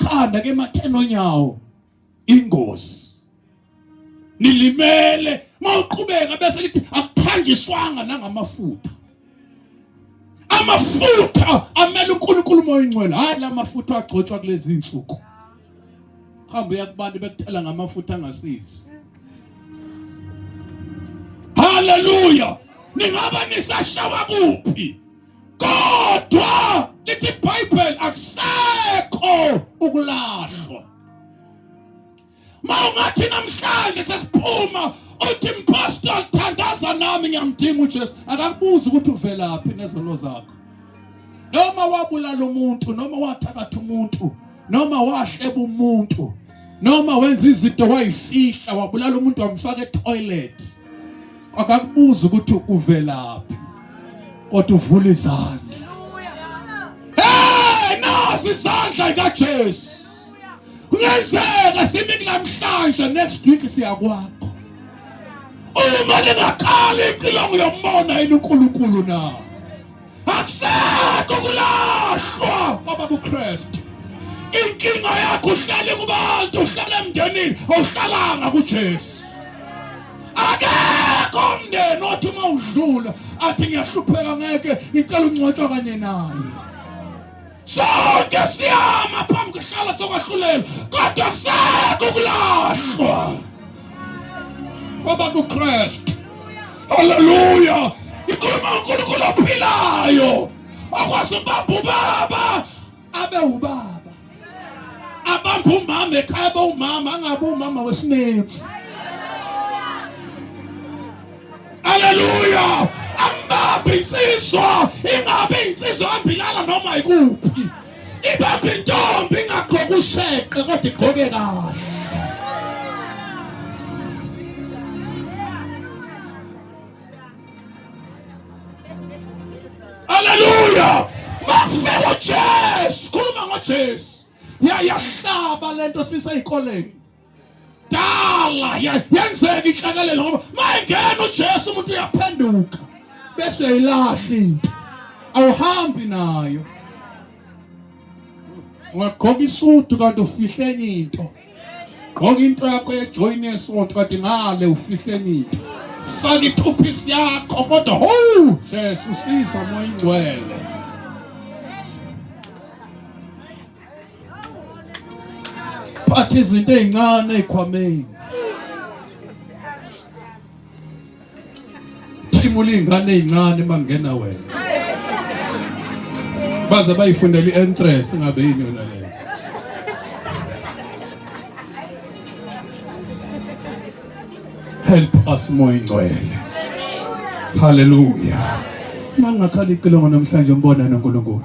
ekhanda ke mathena onyawo ingozi nilimele mawuqhubeka bese lithi akuthanjiswanga nangamafutha amafutha amele uNkulunkulu umoya ingcwele hayi lamafutha agcotshwa kulezi insuku hamba uya kubantu bekuthela ngamafutha angasizi haleluya ningaba nisashawa kuphi kodwa lithi ibhayibheli akusekho ukulahlwa ma ungathi namhlanje sesiphuma uthi mpostol thandaza nami ngiyamdinga ujesu akakubuzi ukuthi uvelaphi nezono zakho noma wabulala umuntu noma wathakatha umuntu noma wahleba umuntu noma wenza izinto wayifihla wabulala umuntu wamfaka etoilet akakubuza ukuthi uvelaphi kodwa uvula izandla hey nasi izandla kaJesu kuyenzeka simi kunamhlanje next week siyakwakho uma lingaqali icilongo yomona yini uNkulunkulu na akusekho kulahlwa ngoba kuKristu inkinga yakho uhlale kubantu uhlale emndenini awuhlalanga kuJesu akekho umndeni othi uma udlula athi ngiyahlupheka ngeke ngicela ungcwatshwa kanye naye Sonke siyama phambi kwehlala sokwahlulelwa kodwa kusekho ukulahlwa kwaba kuKristu. Haleluya! Ikhuluma uNkulunkulu ophilayo okwazi ubamba ubaba abe ubaba abamba umama ekhaya abe umama angabe umama wesinefu Haleluya! Angibambi insizwa, ingabe insizwa ambilala noma ikuphi. Ibambi intombi ingagqoka usheqe kodwa igqoke kahle. Haleluya! Makufika uJesu, khuluma ngoJesu. Yayahlaba lento siseyikoleni. dala yenzeka inhlakelelo ngoba mayengena uJesu umuntu uyaphenduka bese uyayilahla into awuhambi nayo ungagqoka isudu kanti ufihle enye into gqoka into yakho yejoyini yesonto kanti ngale ufihle enye into faka ithuphisi yakho kodwa ho jesu siza moya ingcwele phatha izinto ezincane ezikhwameni thimula izingane ezincane mangena wena baze bayifundela i-entrance ngabe yini yona le help us moya ingcwele haleluya mangakhala icilongo namhlanje umbona noNkulunkulu